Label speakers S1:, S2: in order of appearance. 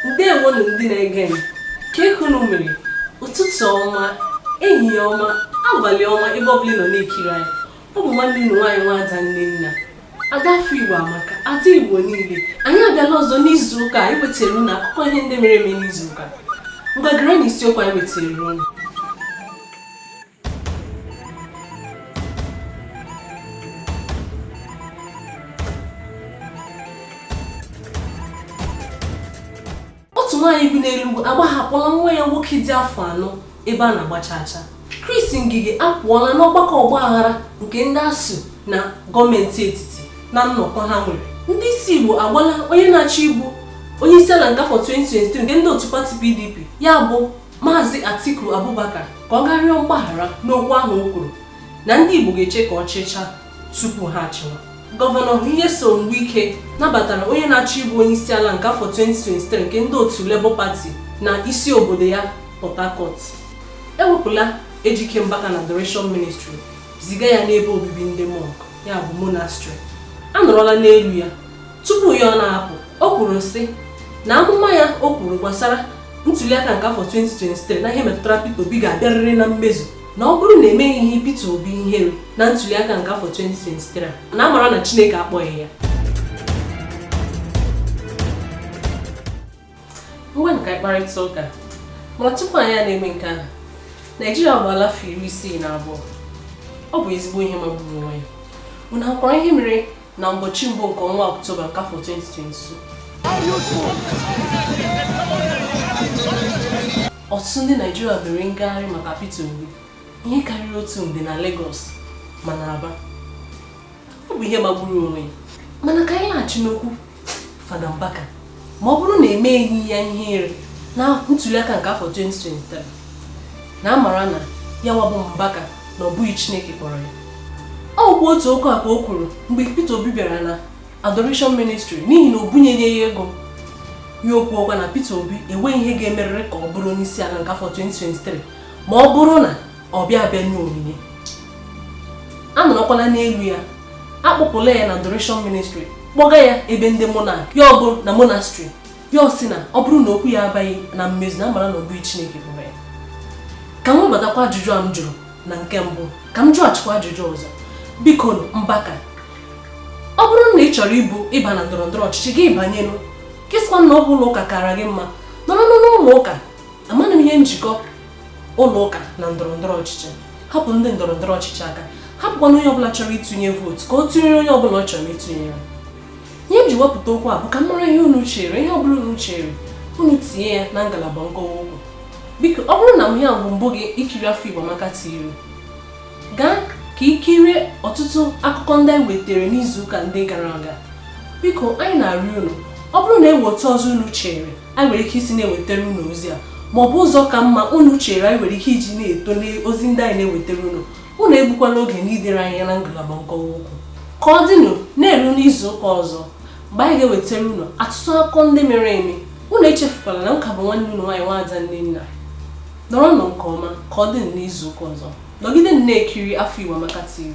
S1: ndewonụ ndị na-ege m kee ka unu mere ụtụtụ ọma ehihie ọma abalị ọma ebe ọbụla ị nọ na-ekiri anyị ọ bụ nwanne unu nwaanyị nwaada nnenna ada afọ igbo amaka ada igbo niile anyị abịala ọzọ n'izu ụka anyị wetara unu akụkọ ihe ndị mere eme n'izu ụka ngwa gere na isiokwu anyị wetara unu otu nwaanyị bi n'Enugwu agbahapụla nwa ya nwoke dị afọ anọ ebe a na-agba chacha Chris Ngige apụọla n'ọgbakọ ọgba aghara nke ndị ASUU na gọọmenti etiti na nnọkọ ha nwere ndị isi Igbo agwala onye na-achọ ịbụ onye isi ala nke afọ 2023 nke ndị otu pati PDP ya bụ Maazị Atiku Abubakar ka ọ gaa rịọ mgbaghara n'okwu ahụ o kwuru na ndị Igbo ga-eche ka ọ chịchaa tupu ha achịwa. Gọvanọ Nyesom Wike nabatara onye na-achọ ịbụ onye isi ala nke afọ 2023 nke ndị otu Labour Party na isi obodo ya Port Harcourt. E wepụla Ejike Mbaka na Adoration Ministry ziga ya n'ebe obibi ndị mọnk ya bụ monastrị a nọrọla n'elu ya tupu ya ọ na-apụ o kwuru sị na amụma ya o kwuru gbasara ntuliaka nke afọ 2023 na ihe metụtara Peter Obi ga-abịarịrị na mmezu na ọ bụrụ na emeghị ihe Peter Obi ihere na ntuliaka nke afọ 2023 na amara na Chineke akpọghị ya Ngwanụ ka anyị kparịta ụka mana tupu anyị a na-eme nke ahụ Naijiria abụala afọ iri isii na abụọ ọ bụ ezigbo ihe magburu onwe ya unu ahụkwara ihe mere na ụbọchị mbụ nke ọnwa Ọktoba nke afọ 2022 ọtụtụ ndị Naijiria mere ngagharị maka Peter Obi ihe karịrị otu nde na Lagos ma na Aba ọ bụ ihe magburu onwe ya mana ka anyị naghachi n'okwu Fada Mbaka ma ọ bụrụ na emeghị ya ihere na ntuliaka nke afọ 2023 na amara na ya nwa bụ Mbaka na ọ bụghị Chineke kpọrọ ya ọ bụ otu okwu a ka o kwuru mgbe Peter Obi bịara na Adoration Ministry n'ihi na o bunyeghị ya ego ya ekwuokwa na Peter Obi enweghị ihe ga-emerịrị ka ọ bụrụ onye isi ala nke afọ 2023 ma ọ bụrụ na ọ bịa abịa nye onyinye a nọrọkwala n'elu ya akpụpụla ya na adoration ministry kpọga ya ebe ndị mọnk ya bụ na monastrị ya ọ sị na ọ bụrụ na okwu ya abịaghị na mmezu na amara na ọ bụghị chineke kpọrọ ya ka m webatakwa ajụjụ a m jụrụ na nke mbụ ka m jụghachikwa ajụjụ ọzọ biko mbaka ọ bụrụ na ị chọrọ ịbụ ịba na ndọrọ ndọrọ ọchịchị gị banyenụ gị sịkwa na ọ bụ ụlọ ụka kara gị mma nọrọ n'ụlọ ụka amaghị m ihe njikọ ụlọ ụka na ndọrọ ndọrọ ọchịchị hapụ ndị ndọrọ ndọrọ ọchịchị aka hapụkwanụ onye ọbụla chọrọ ịtụnye vootu ka ọ tụnyere onye ọbụla ọ chọrọ ịtụnye ya ihe m ji wepụta okwu a bụ ka m mara ihe unu chere ihe ọbụla unu chere unu tinye ya na ngalaba nkọwa okwu biko ọ bụrụ na ihe a bụ mbụ gị ikiri afọ Igbo Amaka TV gaa ka i kirie ọtụtụ akụkọ ndị anyị wetara n'izuụka ndị gara aga biko anyị na-arịọ unu ọ bụrụ na e nwee otu ọzọ unu chere anyị nwere ike isi na-ewetara unu ozi a ma ọ bụ ụzọ ka mma unu chere anyị nwere ike iji na-eto n'ozi ndị anyị na-ewetara unu unu egbukwana oge n'idere anyị na ngalaba nkọwa okwu ka ọ dịnụ na-eru n'izu ụka ọzọ mgbe anyị ga-ewetara unu atụtụ akụkọ ndị mere eme unu echefukwala na m ka bụ nwanne unu nwaanyị nwaada Nnenna nọrọnụ nke ọma ka ọ dịnụ n'izu ụka ọzọ nọgide na-ekiri afọ Igbo Amaka TV